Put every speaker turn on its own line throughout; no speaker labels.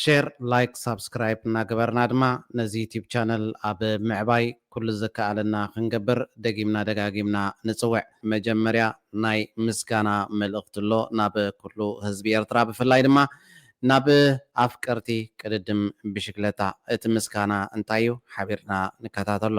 ሼር ላይክ ሳብስክራይብ እናገበርና ድማ ነዚ ዩቲብ ቻነል ኣብ ምዕባይ ኩሉ ዝከኣለና ክንገብር ደጊምና ደጋጊምና ንጽውዕ። መጀመርያ ናይ ምስጋና መልእኽቲ ኣሎ ናብ ኩሉ ህዝቢ ኤርትራ ብፍላይ ድማ ናብ ኣፍቀርቲ ቅድድም ብሽግለታ። እቲ ምስጋና እንታይ እዩ ሓቢርና ንከታተሎ።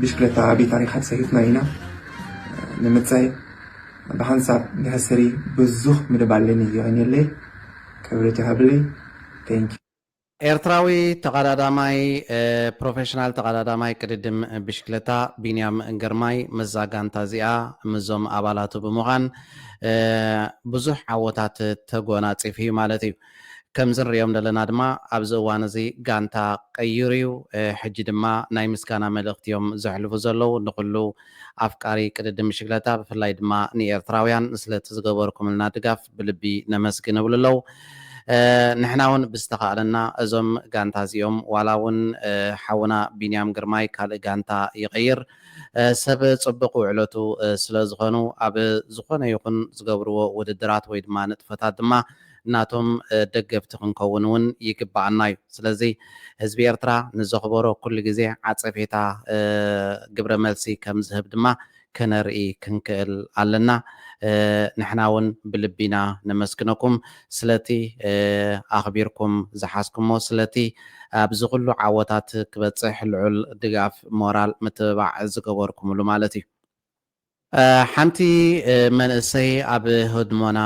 ብሽክለታ ዓብዪ ታሪኻት ሰሪሕና ኢና። ንምጻይ ብሓንሳብ ብሕስሪ ብዙኽ ምድባለኒ የቐንየለይ ክብሪ ትሃብለይ Thank you። ኤርትራዊ
ተቐዳዳማይ ፕሮፌሽናል ተቐዳዳማይ ቅድድም ብሽክለታ ቢንያም ግርማይ ምስዛ ጋንታ እዚኣ ምስዞም ኣባላቱ ብምዃን ብዙሕ ዓወታት ተጎናጺፉ እዩ ማለት እዩ። ከምዚ ንርእዮም ዘለና ድማ ኣብዚ እዋን እዚ ጋንታ ቀይሩ እዩ ሕጂ ድማ ናይ ምስጋና መልእኽቲ እዮም ዘሕልፉ ዘለዉ ንኹሉ ኣፍቃሪ ቅድድም ብሽግለታ ብፍላይ ድማ ንኤርትራውያን ንስለቲ ዝገበርኩምልና ድጋፍ ብልቢ ነመስግን እብሉ ኣለዉ ንሕና ውን ብዝተኻእለና እዞም ጋንታ እዚኦም ዋላ ውን ሓውና ቢንያም ግርማይ ካልእ ጋንታ ይቐይር ሰብ ጽቡቕ ውዕለቱ ስለ ዝኾኑ ኣብ ዝኾነ ይኹን ዝገብርዎ ውድድራት ወይ ድማ ንጥፈታት ድማ ናቶም ደገፍቲ ክንከውን እውን ይግበኣና እዩ። ስለዚ ህዝቢ ኤርትራ ንዘኽበሮ ኩሉ ግዜ ዓጸፌታ ግብረ መልሲ ከም ዝህብ ድማ ከነርኢ ክንክእል ኣለና። ንሕና እውን ብልቢ ኢና ነመስግነኩም ስለቲ ኣኽቢርኩም ዝሓዝኩሞ ስለቲ ኣብዚ ኩሉ ዓወታት ክበጽሕ ልዑል ድጋፍ ሞራል ምትብባዕ ዝገበርኩምሉ ማለት እዩ። ሓንቲ መንእሰይ ኣብ ህድሞና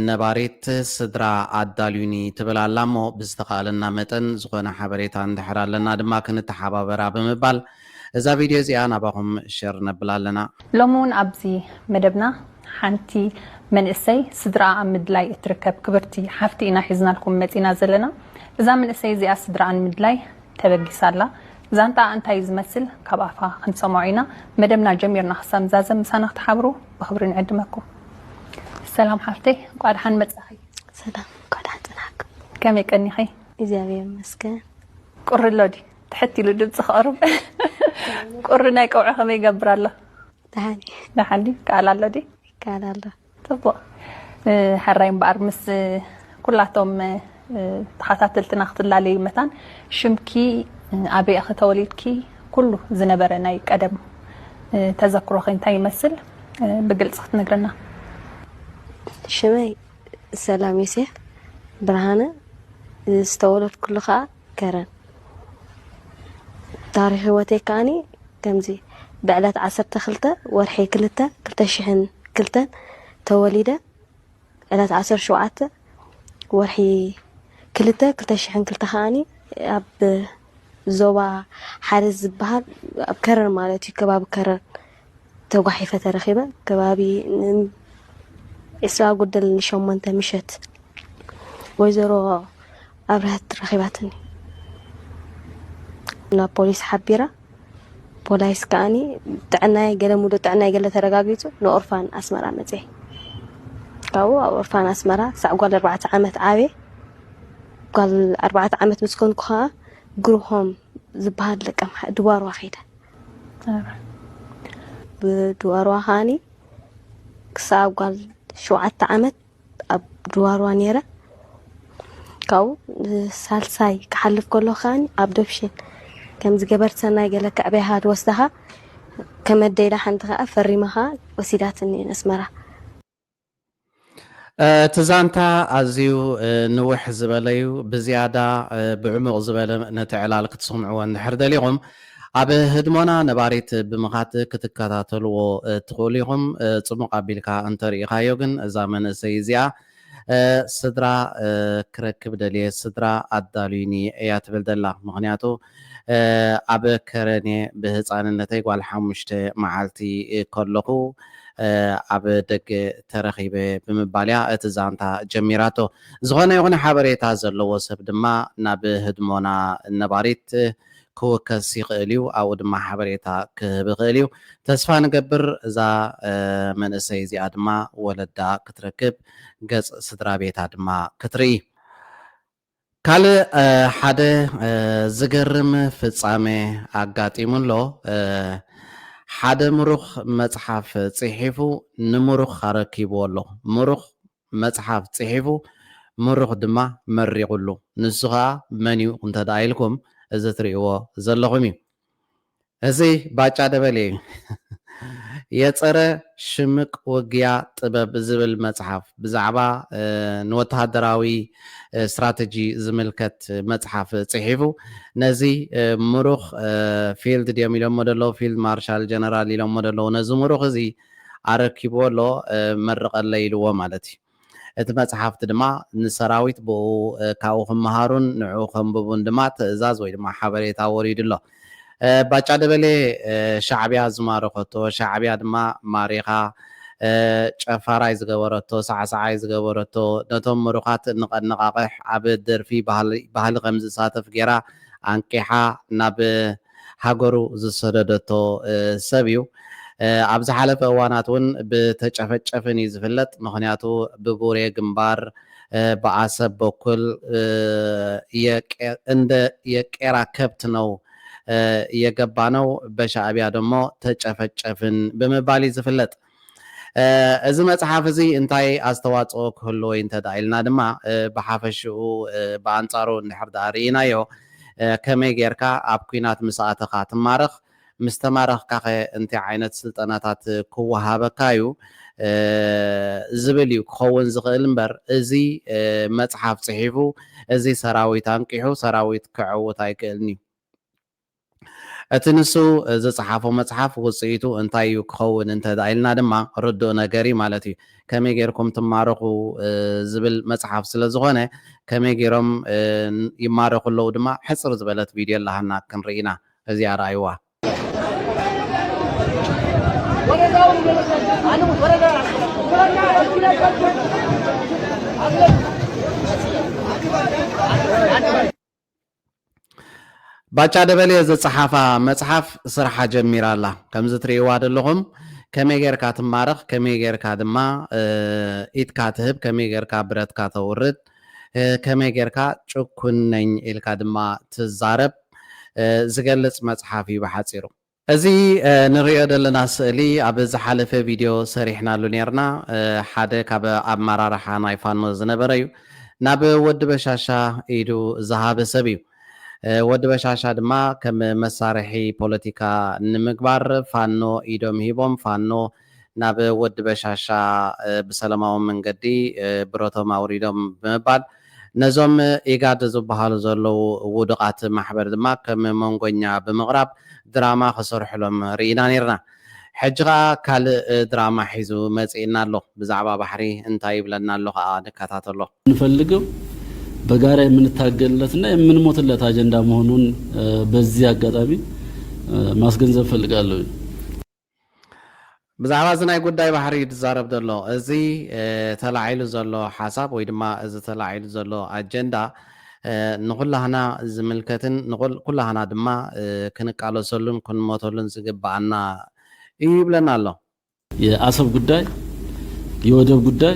ነባሪት ስድራ ኣዳልዩኒ ትብል ኣላ እሞ ብዝተኻእለና መጠን ዝኾነ ሓበሬታ እንድሕር ኣለና ድማ ክንተሓባበራ ብምባል እዛ ቪድዮ እዚኣ ናባኹም ሸር ነብላ ኣለና። ሎሚ ውን ኣብዚ
መደብና ሓንቲ መንእሰይ ስድርኣ ኣብ ምድላይ እትርከብ ክብርቲ ሓፍቲ ኢና ሒዝናልኩም መጺና ዘለና። እዛ ምንእሰይ እዚኣ ስድርኣ ንምድላይ ተበጊሳ ኣላ ዛንትኣ እንታይ እዩ ዝመስል ካብ ኣፋ ክንሰሞዖ ኢና መደብና ጀሚርና ክሳብ ንዛዘም ምሳና ክትሓብሩ ብክብሪ ንዕድመኩም ሰላም ሓፍተይ እንቋዕ ደሓን መጻኺ ሰላም እንኳዕ
ደሓን ጽናሕክ ከመይ ቀኒኺ
እግዚኣብሔር ይመስገን
ቁሪ ኣሎ
ድዩ ትሕት ኢሉ ድምፂ ክቕርብ ቁሪ ናይ ቀውዒ ከመይ ይገብር ኣሎ ደሓን እዩ ደሓን ድዩ ከኣል ኣሎ ድዩ ይከኣል ኣሎ
ጽቡቅ
ሐራይ እምበኣር ምስ ኩላቶም ተኻታተልትና ክትላለዩ መታን ሽምኪ ኣበይ ኢኺ ተወሊድኪ ኩሉ ዝነበረ ናይ ቀደም ተዘክሮኺ እንታይ ይመስል ብግልጺ ክትነግርና።
ሽመይ ሰላም ዮሴፍ ብርሃነ ዝተወለድኩሉ ከኣ ከረን ታሪኽ ህይወተይ ከኣኒ ከምዚ ብዕለት ዓሰርተ ክልተ ወርሒ ክልተ ክልተ ሽሕን ክልተን ተወሊደ ዕለት ዓሰርተ ሸውዓተ ወርሒ ክልተ ክልተ ሽሕን ክልተ ከኣኒ ኣብ ዞባ ሓረዝ ዝበሃል ኣብ ከረን ማለት እዩ ከባቢ ከረን ተጓሒፈ ተረኺበ ከባቢ ዕስራ ጉድል ንሸሞንተ ምሸት ወይዘሮ ኣብርሀት ረኺባትኒ ናብ ፖሊስ ሓቢራ ፖላይስ ከዓኒ ጥዕናይ ገለ ሙሉእ ጥዕናይ ገለ ተረጋጊፁ ንኦርፋን ኣስመራ መፀ ካብኡ ኣብ ኦርፋን ኣስመራ ክሳዕ ጓል ኣርባዕተ ዓመት ዓበ ጓል ኣርባዕተ ዓመት ምስ ኮንኩ ከዓ ግሩሆም ዝበሃል ደቀ ድዋርዋ ከይደ ብድዋርዋ ከዓኒ ክሳብ ጓል ሸውዓተ ዓመት ኣብ ድዋርዋ ነይረ ካብኡ ሳልሳይ ክሓልፍ ከሎ ከዓኒ ኣብ ዶብሽን ከምዚ ገበርቲ ሰናይ ገለ ከዕበያኻ ትወስዳኻ ከመደይዳ ሓንቲ ከዓ ፈሪማኻ ወሲዳትኒ ኣስመራ
እቲ ዛንታ ኣዝዩ ንውሕ ዝበለ እዩ። ብዝያዳ ብዕሙቕ ዝበለ ነቲ ዕላል ክትሰምዕዎ እንድሕር ደሊኹም ኣብ ህድሞና ነባሪት ብምኻድ ክትከታተልዎ ትኽእሉ ኢኹም። ጽሙቕ ኣቢልካ እንተርኢኻዮ ግን እዛ መንእሰይ እዚኣ ስድራ ክረክብ ደልየ ስድራ ኣዳልዩኒ እያ ትብል ዘላ። ምኽንያቱ ኣብ ከረን'የ ብህጻንነተይ ጓል ሓሙሽተ መዓልቲ ከለኹ ኣብ ደገ ተረኺበ ብምባል'ያ እቲ ዛንታ ጀሚራቶ። ዝኾነ ይኹን ሓበሬታ ዘለዎ ሰብ ድማ ናብ ህድሞና ነባሪት ክውከስ ይኽእል'ዩ፣ ኣብኡ ድማ ሓበሬታ ክህብ ይኽእል'ዩ። ተስፋ ንገብር እዛ መንእሰይ እዚኣ ድማ ወለዳ ክትረክብ፣ ገጽ ስድራቤታ ድማ ክትርኢ። ካልእ ሓደ ዝገርም ፍጻመ ኣጋጢሙ ኣሎ። ሓደ ምሩኽ መጽሓፍ ጽሒፉ ንምሩኽ ኣረኪብዎ ኣሎ። ምሩኽ መጽሓፍ ጽሒፉ ምሩኽ ድማ መሪቑሉ። ንሱ ከኣ መን'ዩ እንተድኣ ኢልኩም እዚ ትርእይዎ ዘለኹም'ዩ። እዚ ባጫ ደበሌ እዩ የጸረ ሽምቅ ውግያ ጥበብ ዝብል መጽሓፍ ብዛዕባ ንወተሃደራዊ ስትራተጂ ዝምልከት መጽሓፍ ጽሒፉ ነዚ ምሩኽ ፊልድ ድዮም ኢሎሞ ደለዉ ፊልድ ማርሻል ጀነራል ኢሎሞ ደለዉ ነዚ ምሩኽ እዚ ኣረኪብዎ ኣሎ መርቀለይ ኢልዎ ማለት እዩ። እቲ መጽሓፍቲ ድማ ንሰራዊት ብኡ ካብኡ ክመሃሩን ንዕኡ ከንብቡን ድማ ትእዛዝ ወይ ድማ ሓበሬታ ወሪዱ ኣሎ። ባጫ ደበሌ ሻዕቢያ ዝማረኸቶ፣ ሻዕቢያ ድማ ማሪኻ ጨፋራይ ዝገበረቶ፣ ሳዕሳዓይ ዝገበረቶ፣ ነቶም ምሩኻት ንቐነቓቕሕ ኣብ ደርፊ ባህሊ ከምዝሳተፍ ገይራ ኣንቂሓ ናብ ሃገሩ ዝሰደደቶ ሰብ እዩ። ኣብ ዝሓለፈ እዋናት እውን ብተጨፈጨፍን እዩ ዝፍለጥ። ምኽንያቱ ብቡሬ ግንባር ብኣሰብ በኩል እንደ የቄራ ከብት ነው የገባነው በሻእቢያ ደሞ ተጨፈጨፍን ብምባል እዩ ዝፍለጥ። እዚ መጽሓፍ እዚ እንታይ ኣስተዋጽኦ ክህልዎ ኢዩ እንተ ደኣ ኢልና ድማ፣ ብሓፈሽኡ ብኣንጻሩ እንድሕር ደኣ ርኢናዮ፣ ከመይ ጌርካ ኣብ ኲናት ምስ ኣተኻ ትማረኽ፣ ምስ ተማረኽካኸ እንታይ ዓይነት ስልጠናታት ክወሃበካ ኢዩ ዝብል ኢዩ ክኸውን ዝኽእል እምበር፣ እዚ መጽሓፍ ጽሒፉ እዚ ሰራዊት ኣንቂሑ ሰራዊት ከዐውት ኣይክእልን ኢዩ። እቲ ንሱ ዝጸሓፎ መጽሓፍ ውጽኢቱ እንታይ እዩ ክኸውን እንተ ኢልና ድማ ርዱእ ነገር እዩ ማለት እዩ። ከመይ ጌርኩም ትማረኹ ዝብል መጽሓፍ ስለ ዝኾነ ከመይ ጌሮም ይማረኹ ኣለዉ ድማ ሕጽር ዝበለት ቪድዮ ኣለሃና ክንርኢ ኢና። እዚኣ ርኣይዋ። ባጫ ደበሌ ዝጸሓፋ መጽሓፍ ስራሓ ጀሚራ ኣላ። ከምዚ ትርእይዋ ደለኹም ከመይ ጌርካ ትማረኽ ከመይ ጌርካ ድማ ኢድካ ትህብ ከመይ ጌርካ ብረትካ ተውርድ ከመይ ጌርካ ጭኩን ነኝ ኢልካ ድማ ትዛረብ ዝገልጽ መጽሓፍ እዩ ብሓጺሩ። እዚ ንርእዮ ዘለና ስእሊ ኣብ ዝሓለፈ ቪድዮ ሰሪሕናሉ ኔርና ሓደ ካብ ኣመራርሓ ናይ ፋኖ ዝነበረ እዩ ናብ ወዲ በሻሻ ኢዱ ዝሃበ ሰብ እዩ ወዲ በሻሻ ድማ ከም መሳርሒ ፖለቲካ ንምግባር ፋኖ ኢዶም ሂቦም ፋኖ ናብ ወዲ በሻሻ ብሰለማዊ መንገዲ ብረቶም ኣውሪዶም ብምባል ነዞም ኢጋድ ዝብሃሉ ዘለዉ ውዱቓት ማሕበር ድማ ከም መንጎኛ ብምቕራብ ድራማ ክሰርሑሎም ርኢና ኔርና። ሕጂ ከኣ ካልእ ድራማ ሒዙ መጺእና ኣሎ። ብዛዕባ ባሕሪ እንታይ ይብለና ኣሎ ከኣ ንከታተሎ። እንፈልገው
በጋራ የምንታገልለት እና የምንሞትለት ኣጀንዳ መሆኑን በዚ ኣጋጣሚ ማስገንዘብ እፈልጋለውኝ።
ብዛዕባ እዚ ናይ ጉዳይ ባሕሪ እዩ ዝዛረብ ዘሎ። እዚ ተላዒሉ ዘሎ ሓሳብ ወይ ድማ እዚ ተላዒሉ ዘሎ ኣጀንዳ ንኹላህና ዝምልከትን ንኩላህና ድማ ክንቃለሰሉን ክንሞተሉን ዝግበኣና እዩ ይብለና ኣሎ። የኣሰብ
ጉዳይ፣ የወደብ ጉዳይ፣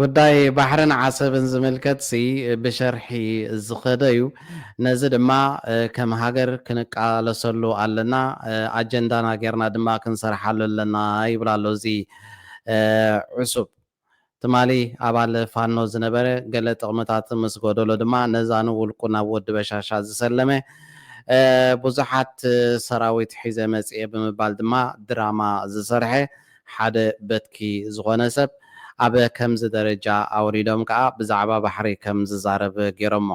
ጉዳይ ባሕርን ዓሰብን ዝምልከትሲ ብሸርሒ ዝኸደ እዩ። ነዚ ድማ ከም ሃገር ክንቃለሰሉ ኣለና፣ ኣጀንዳና ጌርና ድማ ክንሰርሓሉ ኣለና ይብል ኣሎ እዚ ዕሱብ። ትማሊ ኣባል ፋኖ ዝነበረ ገለ ጥቕምታት ምስ ጎደሎ ድማ ነዛ ንውልቁ ናብ ወዲ በሻሻ ዝሰለመ ብዙሓት ሰራዊት ሒዘ መጺኤ ብምባል ድማ ድራማ ዝሰርሐ ሓደ በትኪ ዝኾነ ሰብ ኣብ ከምዚ ደረጃ ኣውሪዶም ከኣ ብዛዕባ ባሕሪ ከም ዝዛረብ ጌሮሞ።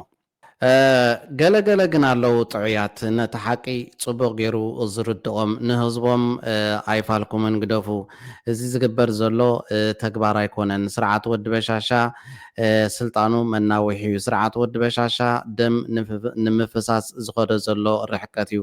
ገለ ገለ ግን ኣለዉ ጥዑያት ነቲ ሓቂ ጽቡቕ ጌሩ ዝርድኦም ንህዝቦም ኣይፋልኩምን ግደፉ እዚ ዝግበር ዘሎ ተግባር ኣይኮነን ስርዓት ወዲ በሻሻ ስልጣኑ መናውሒ ዩ ስርዓት ወዲ በሻሻ ደም ንምፍሳስ ዝኸዶ ዘሎ ርሕቀት ዩ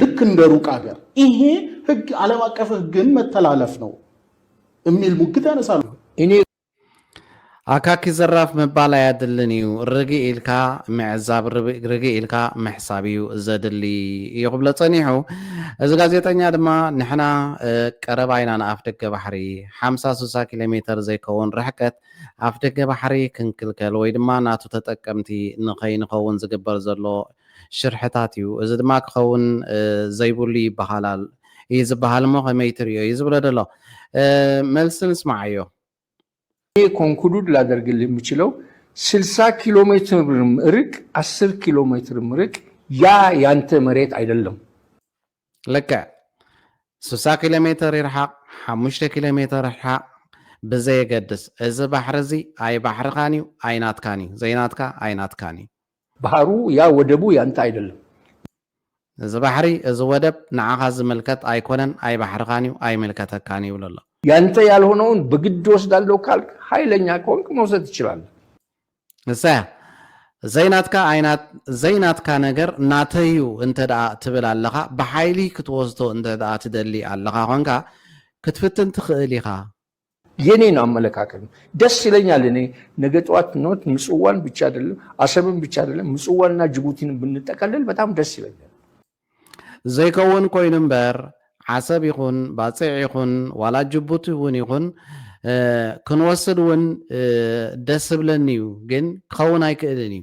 ልክ እንደ ሩቅ ሀገር ይሄ ህግ ዓለም አቀፍ ህግን መተላለፍ ነው የሚል ሙግት ያነሳሉ።
ኣካኪ ዘራፍ ምባል ኣያድልን እዩ ርግእ ኢልካ ምዕዛብ ርግእ ኢልካ ምሕሳብ እዩ ዘድሊ እዩ ክብሎ ጸኒሑ እዚ ጋዜጠኛ ድማ ንሕና ቀረባ ኢና ንኣፍ ደገ ባሕሪ ሓምሳ ስሳ ኪሎ ሜተር ዘይከውን ርሕቀት ኣፍ ደገ ባሕሪ ክንክልከል ወይ ድማ ናቱ ተጠቀምቲ ንኸይንኸውን ዝግበር ዘሎ ሽርሕታት እዩ። እዚ ድማ ክኸውን ዘይብሉ ይበሃላል እዩ ዝበሃል እሞ ከመይ ትርእዮ እዩ ዝብሎ ደሎ። መልሲ ንስማዓዮ። እኔ
ኮንኩሉድ ላደርግልህ የምችለው ስልሳ ኪሎ ሜትርም እርቅ አስር ኪሎ ሜትርም እርቅ ያ ያንተ መሬት አይደለም።
ልክዕ ስሳ ኪሎ ሜትር ይርሓቕ ሓሙሽተ ኪሎ ሜትር ይርሓቕ ብዘየገድስ እዚ ባሕሪ እዚ ኣይባሕርኻን እዩ ኣይናትካን እዩ ዘይናትካ ኣይናትካን እዩ። ባሕሩ እያ
ወደቡ እያ እንታይ ኣይደለም።
እዚ ባሕሪ እዚ ወደብ ንዓኻ ዝምልከት ኣይኮነን ኣይባሕርኻን እዩ ኣይምልከተካን ይብሎ ኣሎ። ያንተ ያልሆነውን
በግድ ወስዳለሁ ካልክ ሀይለኛ ከሆንክ መውሰድ ትችላለህ። እሳ
እያ ዘይናትካ ኣይናት ዘይናትካ ነገር ናተዩ እንተደኣ ትብል ኣለኻ ብሓይሊ ክትወስዶ እንተደኣ ትደሊ ኣለኻ ኮንካ ክትፍትን ትኽእል ኢኻ የኔ ነው
አመለካከት ነው። ደስ ይለኛል። እኔ ነገ ጠዋት ኖት ምጽዋን ብቻ አይደለም አሰብን ብቻ አይደለም ምጽዋንና ጅቡቲን ብንጠቀልል በጣም ደስ ይለኛል።
ዘይከውን ኮይኑ እምበር ዓሰብ ይኹን ባጽዕ ይኹን ዋላ ጅቡቲ እውን ይኹን ክንወስድ እውን ደስ ብለኒ እዩ፣ ግን ክኸውን ኣይክእልን እዩ።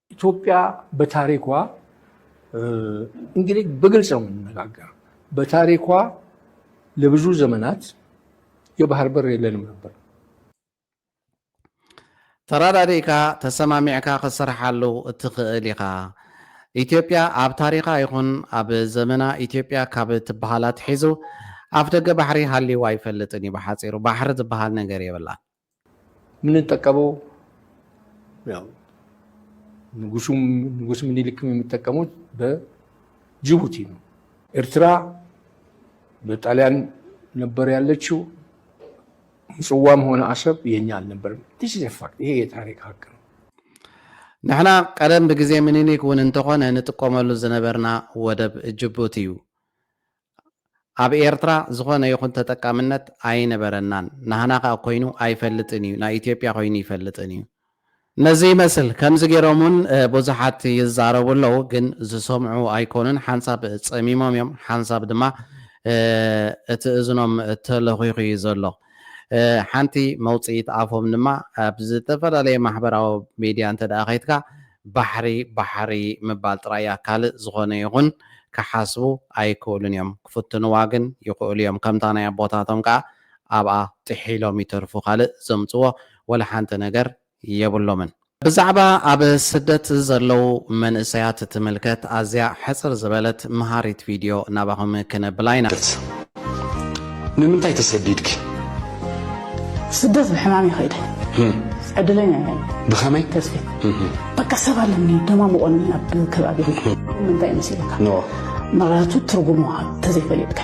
ኢትዮጵያ በታሪኳ እንግዲህ በግልጽ ነው የምንነጋገር። በታሪኳ ለብዙ ዘመናት የባህር በር የለንም ነበር።
ተራዳዲእካ ተሰማሚዕካ ክትሰርሓሉ እትኽእል ኢኻ። ኢትዮጵያ ኣብ ታሪኻ ይኹን ኣብ ዘመና ኢትዮጵያ ካብ እትበሃል ኣትሒዙ ኣፍ ደገ ባሕሪ ሃልይዋ ኣይፈልጥን እዩ። ብሓፂሩ ባሕሪ ዝበሃል ነገር የብላን።
የምንጠቀመው ያው ንጉሱም ንጉስ ምኒልክም የሚጠቀሙት በጅቡቲ ነው። ኤርትራ በጣሊያን ነበር ያለችው። ምጽዋም ሆነ አሰብ የኛ አልነበርም። ዲስ ኢዝ ፋክት። ይሄ የታሪክ ሀቅ ነው።
ንሕና ቀደም ብግዜ ምኒልክ እውን እንተኾነ ንጥቀመሉ ዝነበርና ወደብ ጅቡቲ እዩ። ኣብ ኤርትራ ዝኾነ ይኹን ተጠቃምነት ኣይነበረናን ናህና ከኣ ኮይኑ ኣይፈልጥን እዩ ናይ ኢትዮጵያ ኮይኑ ይፈልጥን እዩ። ነዚ ይመስል ከምዚ ጌሮም ውን ቡዙሓት ይዛረቡ ኣለዉ ግን ዝሰምዑ ኣይኮኑን ሓንሳብ ጸሚሞም እዮም ሓንሳብ ድማ እቲ እዝኖም ተለኺኹ እዩ ዘሎ። ሓንቲ መውጽኢት ኣፎም ድማ ኣብ ዝተፈላለየ ማሕበራዊ ሚድያ እንተድኣ ከይድካ ባሕሪ ባሕሪ ምባል ጥራይ እያ ካልእ ዝኾነ ይኹን ክሓስቡ ኣይክእሉን እዮም ክፍትንዋ ግን ይኽእሉ እዮም ከምታ ናይ ኣቦታቶም ከኣ ኣብኣ ጥሒሎም ይተርፉ ካልእ ዘምጽዎ ወላሓንቲ ነገር የብሎምን። ብዛዕባ ኣብ ስደት ዘለዉ መንእሰያት እትምልከት ኣዝያ ሕጽር ዝበለት መሃሪት ቪድዮ ናባኹም ክነብላ ኢና። ንምንታይ
ተሰዲድኪ?
ስደት ብሕማም እየ ከይደ። ዕድለኛ እየ። ብኸመይ? ተስፊት በቃ ሰብ ኣለኒ ደማሙቖኒ ኣብ ከባቢ ምንታይ መሲልካ ምክንያቱ ትርጉሙ እንተዘይፈሊጥካ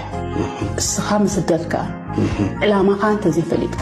እስኻ ምስደድካ ዕላማኻ እንተዘይፈሊጥካ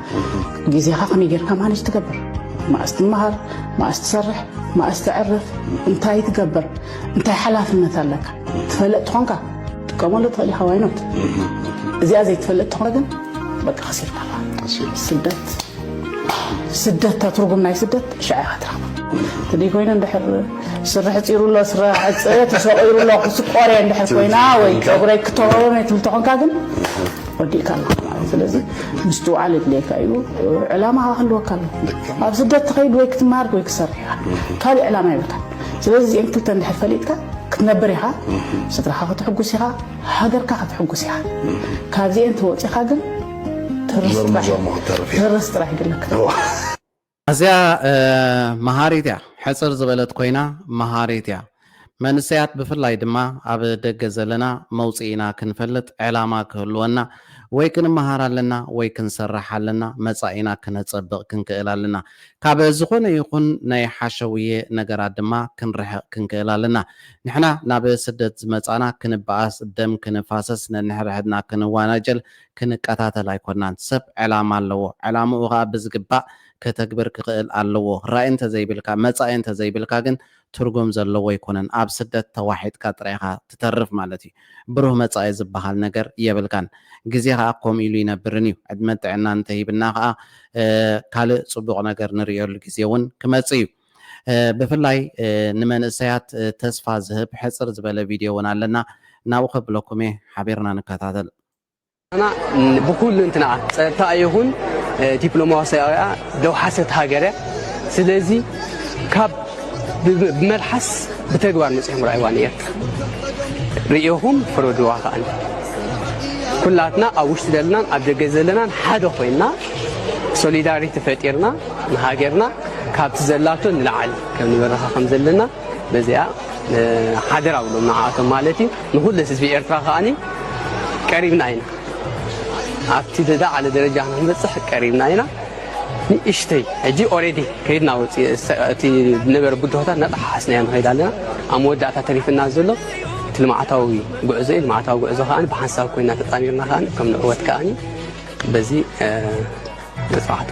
ግዜኻ ከመይ ጌርካ ማነጅ ትገብር፣ መኣስ ትመሃር፣ መኣስ ትሰርሕ፣ መኣስ ተዕርፍ፣ እንታይ ትገብር፣ እንታይ ሓላፍነት ኣለካ ትፈልጥ ትኾንካ ክትጥቀመሉ ትኽእል ኢኻ ዋይኖት እዚኣ ዘይትፈልጥ ትኾነ ግን በቃ ከሲርካ ስደት ስደት እታ ትርጉም ናይ ስደት ሽዓ ኢኻ ትረኽባ እንተደይ ኮይኑ እንድሕር ስረ ሕፂሩ ኣሎ ስረ ሕፀ ተሰቂሩ ኣሎ ክስቆረ እንድሕር ኮይና ወይ ፀጉረይ ክተወበ ትብል ተኾንካ ግን ወዲእካ ኣለኻ ማለት ስለዚ ምስትውዓል የድልየካ እዩ ዕላማኻ ክህልወካ ኣሎ ኣብ ስደት ትኸይድ ወይ ክትመሃር ወይ ክትሰርሕ ኢኻ ካልእ ዕላማ ይብልካ ስለዚ እዚኦም ክልተ እንድሕር ፈሊጥካ ክትነብር ኢኻ ስድራኻ ክትሕጉስ ኢኻ ሃገርካ ክትሕጉስ ኢኻ ካብዚኤን ተወፂኻ ግን ተርስ ጥራሕ ይግለካ
ኣዝያ መሃሪት እያ ሕጽር ዝበለት ኮይና መሃሪት እያ መንሰያት ብፍላይ ድማ ኣብ ደገ ዘለና መውጽኢና ክንፈልጥ ዕላማ ክህልወና ወይ ክንመሃር ኣለና ወይ ክንሰርሕ ኣለና መጻኢና ክነጸብቅ ክንክእል ኣለና ካብ ዝኾነ ይኹን ናይ ሓሸውየ ነገራት ድማ ክንርሕቅ ክንክእል ኣለና ንሕና ናብ ስደት ዝመጻና ክንበኣስ ደም ክንፋሰስ ነንሕድሕድና ክንዋናጀል ክንከታተል ኣይኮናን። ሰብ ዕላማ ኣለዎ። ዕላምኡ ከኣ ብዝግባእ ከተግብር ክኽእል ኣለዎ። ራኢ እንተዘይብልካ፣ መጻኢ እንተዘይብልካ ግን ትርጉም ዘለዎ ኣይኮነን። ኣብ ስደት ተዋሒጥካ ጥራይ ኢኻ ትተርፍ ማለት እዩ። ብሩህ መጻኢ ዝበሃል ነገር የብልካን። ግዜ ከኣ ከምኡ ኢሉ ኣይነብርን እዩ። ዕድመን ጥዕናን እንተሂብና ከኣ ካልእ ጽቡቕ ነገር ንርእየሉ ግዜ እውን ክመጽእ እዩ። ብፍላይ ንመንእሰያት ተስፋ ዝህብ ሕጽር ዝበለ ቪድዮ እውን ኣለና። ናብኡ ከብለኩም እየ። ሓቢርና ንከታተል። ኤርትራና
ብኩልንትናኣ ጸጥታኣ ይኹን ዲፕሎማስያዊኣ ደውሓሰት ሃገርያ ስለዚ ካብ ብመልሓስ ብተግባር መጺኦም ራይዋ ንኤርትራ ርእኹም ፍረድዋ ከኣ ኩላትና ኣብ ውሽጢ ዘለናን ኣብ ደገ ዘለናን ሓደ ኮይና ሶሊዳሪቲ ፈጢርና ንሃገርና ካብቲ ዘላቶ ንላዓሊ ከም ንበረኻ ከም ዘለና በዚኣ ሓደራ ብሎም ንዓኣቶም ማለት እዩ ንኹሉ ህዝቢ ኤርትራ ከኣ ቀሪብና ኢና ኣብቲ ዝለዓለ ደረጃ ክንበፅሕ ቀሪብና ኢና ንእሽተይ ሕጂ ኦሬዲ ከይድና እቲ ዝነበረ ብድሆታት እናጠሓሓስናዮ ንኸይድ ኣለና ኣብ መወዳእታ ተሪፍና ዘሎ እቲ ልምዓታዊ ጉዕዞ እዩ ልምዓታዊ ጉዕዞ ከዓ ብሓንሳብ ኮይና ተጣሚርና ከዓ ከም ንዕወት ከዓ በዚ መፅናዕቶ